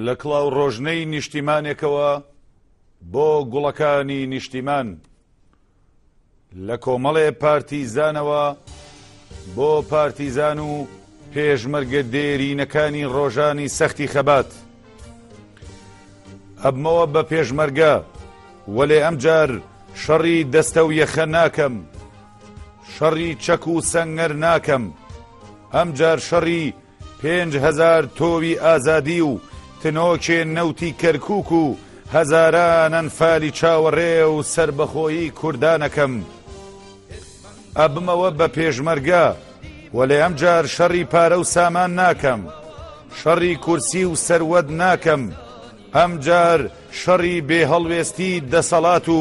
لە کڵاو ڕۆژنەی نیشتیمانێکەوە بۆ گوڵەکانی نیشتیمان لە کۆمەڵێ پارتیزانەوە بۆ پارتیزان و پێشمەرگە دێرینەکانی ڕۆژانی سەختی خەبات ئەبمەوە بە پێشمەرگە وەلێ ئەمجار شەڕی دەستە و یەخە ناکەم شەڕی چەک و سەنگەر ناکەم، ئەمجار شەڕی پێنج هەزار تۆوی ئازادی و تنۆکێ نەوتی کەرکووک و هەزاران ئەنفالی چاوەڕێ و سەربەخۆیی کوردانەکەم. ئەبمەوە بە پێشمەرگە، وەلێ ئەمجار شەڕی پارە و سامان ناکەم، شەڕی کورسی و سەروەت ناکەم، ئەمجار شەڕی بێهەڵوێستی دەسەڵات و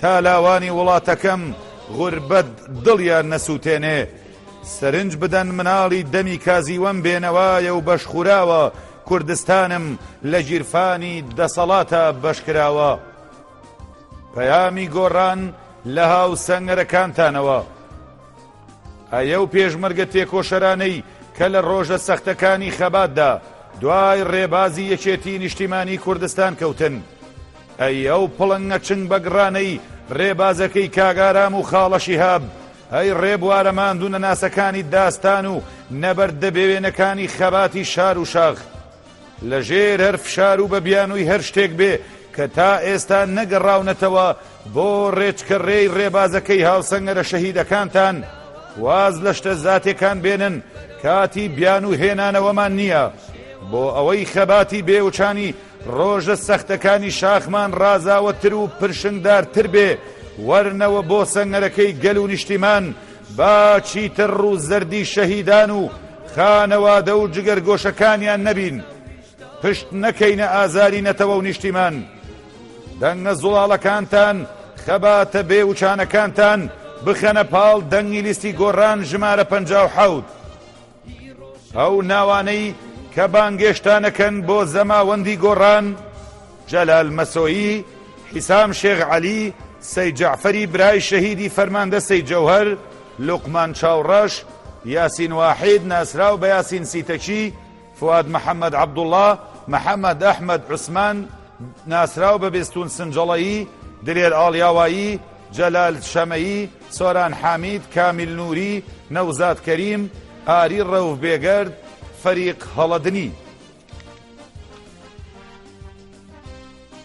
تا لاوانی وڵاتەکەم غوربەت دڵیان نەسوتێنێ سەرنج بدەن مناڵی دەمی کازیوەم بێنەوایە و بەشخوراوە کوردستانم لە گیرفانی دەسەڵاتە بەشکراوە پەیامی گۆڕان لە هاو سەنگەرەکانتانەوە ئەە و پێشمەرگە تێکۆشەرانەی کە لە ڕۆژە سەختەکانی خەباتدا دوای ڕێبازی یەکێتی نیشتیمانی کوردستان کەوتن ئەی ئەو پڵنگە چنگ بە گڕانەی ڕێبازەکەی کاک ئارام و خاڵە شیهاب، ئەی ڕێبوارە ماندوونەناسەکانی داستان و نەبەرد دەبێوێنەکانی خەباتی شار و شاخ. لە ژێر هەر فشار و بە بیانووی هەر شتێک بێ کە تا ئێستا نەگەڕاونەتەوە بۆ ڕێچکە ڕێی ڕێبازەکەی هاوسەنگەرە شەهیدەکانتان، واز لە شتە زاتێکان بێنن کاتی بیانوو هێنانەوەمان نییە بۆ ئەوەی خەباتی بێوچانی ڕۆژە سەختەکانی شاخمان ڕازاوەتر و پرشنگدارتر بێ، وەرنەوە بۆ سەنگەرەکەی گەل و نیشتیمان، با چیتر ڕوو زەردی شەهیدان و خانەوادە و جگەرگۆشەکانیان نەبین، پشت نەکەینە ئازاری نەتەوە و نیشتیمان. دەنگە زوڵاڵەکانتان، خەباتە بێ وچانەکانتان بخەنە پاڵ دەنگی لیستی گۆڕان ژمارە پەنجا و حەوت. ئەو ناوانەی کە بانگێشتانەکەن بۆ زەماوەندی گۆڕان، جەلال مەسۆیی، حیسام شێخ عەلی، سەی جەعفەری برای شەهیدی فەرماندە سەی جەوهەر، لوقمان چاوڕەش، یاسین واحید ناسراو بە یاسین سیتەکی، فواد محەمەد عەبدوڵا، محەمەد ئەحمەد عوسمان ناسراو بە بێستوون سنجڵەیی، دلێر ئاڵیاوایی، جەلال شەمەیی، سۆران حامید، کامیل نوری، نەوزاد کەریم، ئاری ڕەوف بێگەرد، فەریق هەڵەدنی.